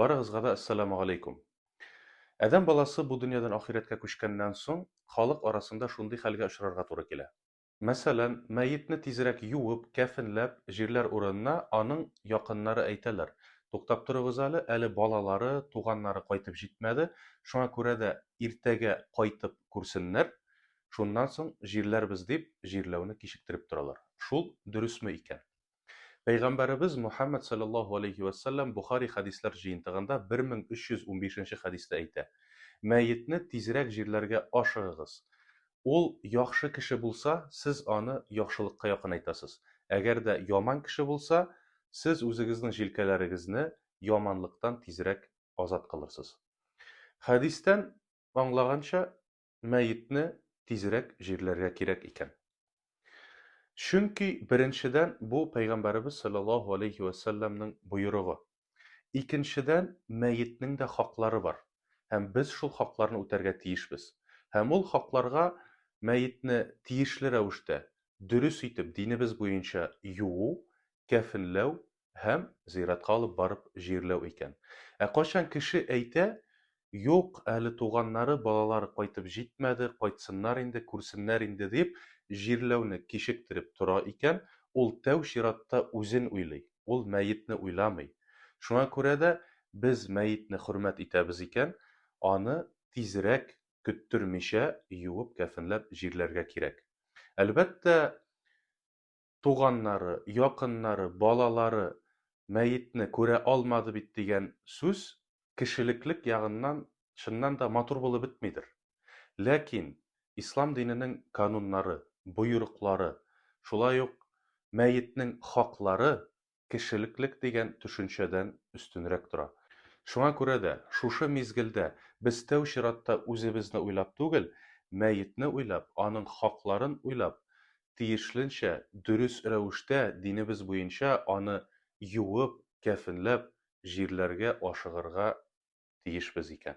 Барыгызга да Әссәламу галәйкүм. Адәм баласы бу дөньядан ахирәткә күчкәннән соң, халык арасында шундый хәлгә очрарга туры килә. Мәсәлән, мәетне тизрәк юып, кәфенләп, җирләр урынына аның якыннары әйтәләр, Туктап торыгыз әле, әле балалары, туганнары кайтып җитмәде, шуңа күрә дә иртәгә кайтып күрсеннәр, шуннан соң җирләрбез дип, җирләүне кичектереп торалар. Шул дөресме икән? Пәйгамбәребез Мухәммәд салләллаһу галәйһи вә сәлләм Бохари хәдисләр җыентыгында 1315 нче хәдистә әйтә, Мәетне тизрәк җирләргә ашыгыгыз. Ул яхшы кеше булса, сез аны яхшылыкка якынайтасыз, әгәр дә яман кеше булса, сез үзегезнең җилкәләрегезне яманлыктан тизрәк азат кылырсыз. Хәдистән аңлаганча, мәетне тизрәк җирләргә кирәк икән. Чөнки, беренчедән, бу Пәйгамбәребез салләллаһу алейһи вә сәлләмнең боерыгы. Икенчедән, мәетнең дә хаклары бар, һәм без шул хакларны үтәргә тиешбез. Һәм ул хакларга мәетне тиешле рәвештә, дөрес итеп, динебез буенча юу, кәфенләү, һәм зиратка алып барып җирләү икән. Ә кайчан кеше әйтә, Юк, әле туганнары, балалары кайтып җитмәде, кайтсыннар инде, күрсеннәр инде, дип, җирләүне кичектереп тора икән, ул тәү чиратта үзен уйлый, ул мәетне уйламый. Шуңа күрә дә без мәетне хөрмәт итәбез икән, аны тизрәк, көттермичә, юып-кәфенләп җирләргә кирәк. Әлбәттә, туганнары, якыннары, балалары мәетне күрә алмады бит дигән сүз кешелеклек ягыннан чыннан да матур булып бетмидер. Ләкин Ислам диненең кануннары, боерыклары, шулай ук мәетнең хаклары кешелеклек дигән төшенчәдән өстенрәк тора. Шуңа күрә дә, шушы мизгелдә без тәү чиратта үзебезне уйлап түгел, мәетне уйлап, аның хакларын уйлап, тиешленчә, дөрес рәвештә, динебез буенча аны юып, кәфенләп, җирләргә ашыгырга тиешбез икән.